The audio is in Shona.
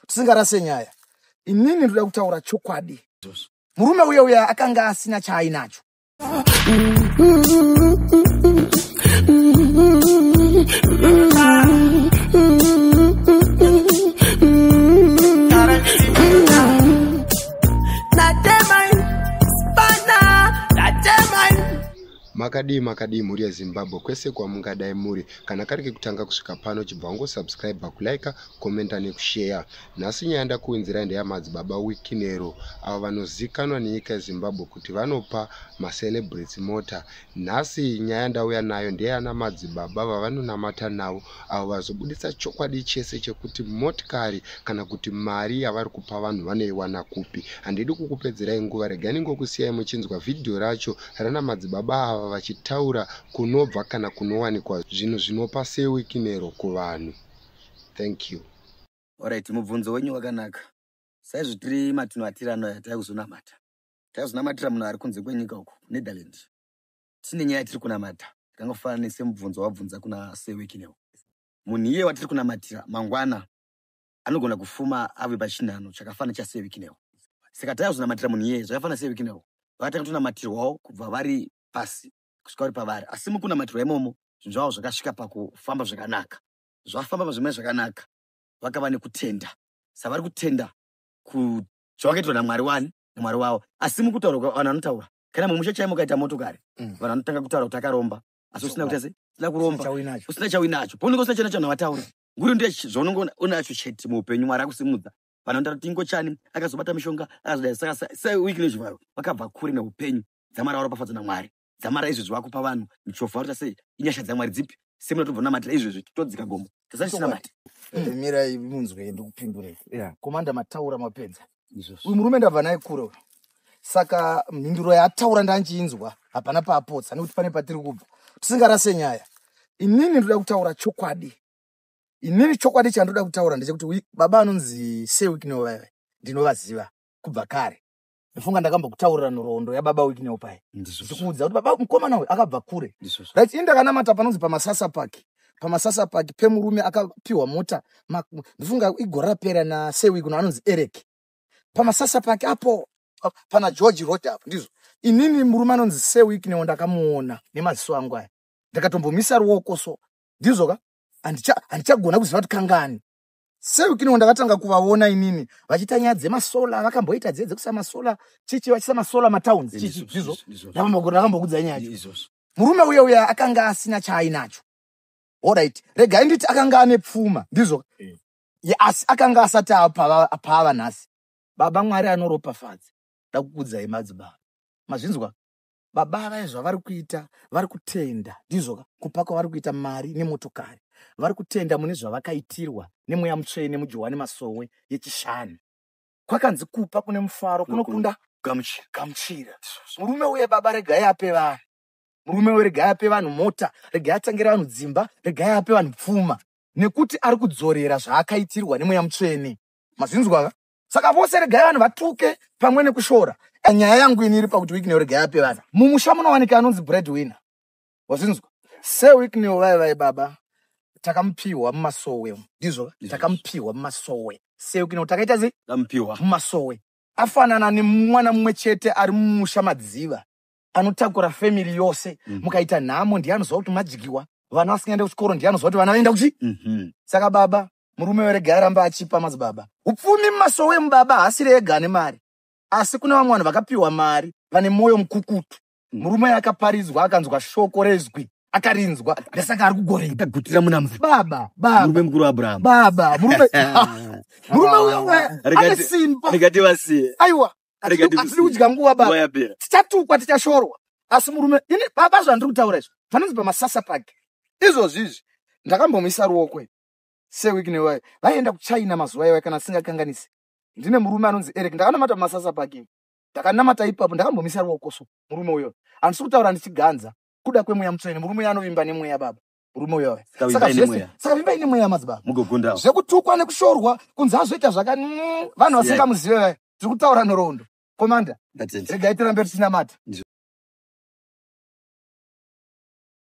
tisingarase nyaya inini ndoda kutaura chokwadi murume uya uya akanga asina chaainacho makadii makadii mhuri yezimbabwe kwese kwamungadai muri kana kari kekutanga kusvika pano chibva wangosubscribe kulika kukomenta nekusheya nhasi nyaya ndakuunzirai ndeyamadzibaba wikinero avo vanozikanwa nenyika yezimbabwe kuti vanopa macelebrity mota nhasi nyaya ndauya nayo ndeyana madzibaba vavanonamata navo avo vazobudisa chokwadi chese chekuti motikari kana kuti mari yavari kupa vanhu vanoiwana kupi handidi kukupedzerai nguva regani ngokusiyai muchinzwa vhidhiyo racho rana madzibaba ava vachitaura kunobva kana kunowanikwa zvinhu zvinopa sewikinero kuvanhu thank you orit mubvunzo wenyu wakanaka saizvo tiri matino atiri anoya tava kuzonamata tava kuzonamatira munhu ari kunze kwenyika uku netherland tine nyaya yatiri kunamata yakangofanana semubvunzo wabvunza kuna sewekinewo munhu iye watiri kunamatira mangwana anogona kufuma ave pachinhano chakafanana chasewekinewo saka tava kuzonamatira munhu iye zvakafanana sewekinewo vakatanga tonamatirwawo kubva vari pasi kusvika vari pavari asi mukunamatirwa imomo zvinhu zvavo zvakasvika pakufamba zvakanaka zvafamba pazvimwe zvakanaka vakava nekutenda savari kutenda zvavakaitwa namwari wani namwari wavo asi mukutaura vanhu vanotaura kana mumusha chaimo ukaita motokari mm. vanhu vanotanga kutaura kuti akaromba asi usina kuti asi usina kuromba usina chauinacho paunenge usina chana chanhu vataura nguri ndiye zvaunenge unacho chete muupenyu mwari akusimudza vanhu vanotaura kuti ingo chani akazobata mishonga akazodai saka sewiki nezvivaro vakabva kure neupenyu dzamwari varopafadzwa namwari dzamara izvezvi vakupa vanhu michofo varita sei inyasha dzamwari dzipi semunatobva namatira izvezvi todzika gomo tasatinamati eh, mirai munzwe ndikupindurei komanda mataura mapedza uyu murume ndabva naye kure uyu saka mhinduro yaataura ndandiinzwa hapana paapotsa nekuti pane patiri kubva tisingarase nyaya inini ndoda kutaura chokwadi inini chokwadi chandoda kutaura ndechekuti baba anonzi sewiknovave ndinovaziva kubva kare ndofunga ndakambokutaurira nhoroondo yababa wiki newo paye ndikuudza kuti baba mukomana uyu akabva kure right ini ndakanamata panonzi pamasasa park pamasasa park pemurume akapiwa mota ndofunga igore rapera nasewi kuno anonzi eric pamasasa park apo pana george road apo ndizvo inini murume anonzi sewik newo ndakamuona nemaziso angu aya ndakatombomisa ruoko so ndizvo ka handichagona kuziva kuti kangani seukino ndakatanga kuvaona inini vachiita nyaya dzemasola vakamboita dziye dzekusa masola chichi vachisa masola matowns chichi zvizvo ndakambokudzai nyaya yacho murume uye uye akanga asina chaainacho orit regai nditi akanga ane pfuma ndizvo eh. asi akanga asati apaava nhasi baba mwari anoropafadza ndakukudzai madzibaba mazvinzwa baba vaye zvavari kuita vari kutenda ndizvo kupa kwavari kuita mari nemotokari vari kutenda mune zvavakaitirwa nemweya mutsvene mujohwani masowe yechishanu kwakanzi kupa kune mufaro kunokunda gamuchira murume uye baba regai ape vanhu murume uye regai ape vanhu mota regai atangire vanhu dzimba regai ape vanhu pfuma nekuti ari kudzorera zvaakaitirwa nemweya mutsvene mazvinzwaka saka vose regai vanhu vatuke pamwe nekushora nyaya yangu ini iri pakuti wikneo regai ape vanhu mumusha munowanika anonzi bread winner wazvinzwa sewikneo vai vai baba takamupiwa mumasowe ndizvo takamupiwa mumasowe sewikneo takaita sei takamupiwa mumasowe afanana nemwana mumwe chete ari mumusha madziva anotakura family yose mm. mukaita nhamo ndiye anoziva kuti madyiwa vana vasingaende kuchikoro ndiye anoziva kuti vana vaenda kuchi mm -hmm. saka baba murume werega aramba achipa madzibaba upfumi mumasowe mubaba haasiri ega ane mari asi kune vamwe vanhu vakapiwa mari vane mwoyo mukukutu murume akaparidzwa akanzwa shoko rezwi akarinzwa ndasaka ari kugorei tagutira muna mvura baba baba murume mukuru abraham baba murume murume uyo ane simba rekati vasiye aiwa atiri kudya nguva baba tichatukwa tichashorwa asi murume ini baba zvandiri kutaura izvo vanonzi pamasasa pake izvozvizvi ndakambomuisa ruoko sewiki newayo vaienda kuchina mazuva iwayo kana asingakanganisi ndine murume anonzi eric ndakanamata mumasasa parking ndakanamata ipapo ndakambomisa ruoko so murume uyo handisi kutaura ndichiganza kuda kwemweya mutsvene murume uyo anovimba nemweya baba murume uyo saka vimba ine mweya madzibaba mugogunda zvekutukwa nekushorwa kunzi azoita zvaka mm, vanhu vasingamuzive vaya tiri kutaura nhoroondo komanda regai tirambe tichinamata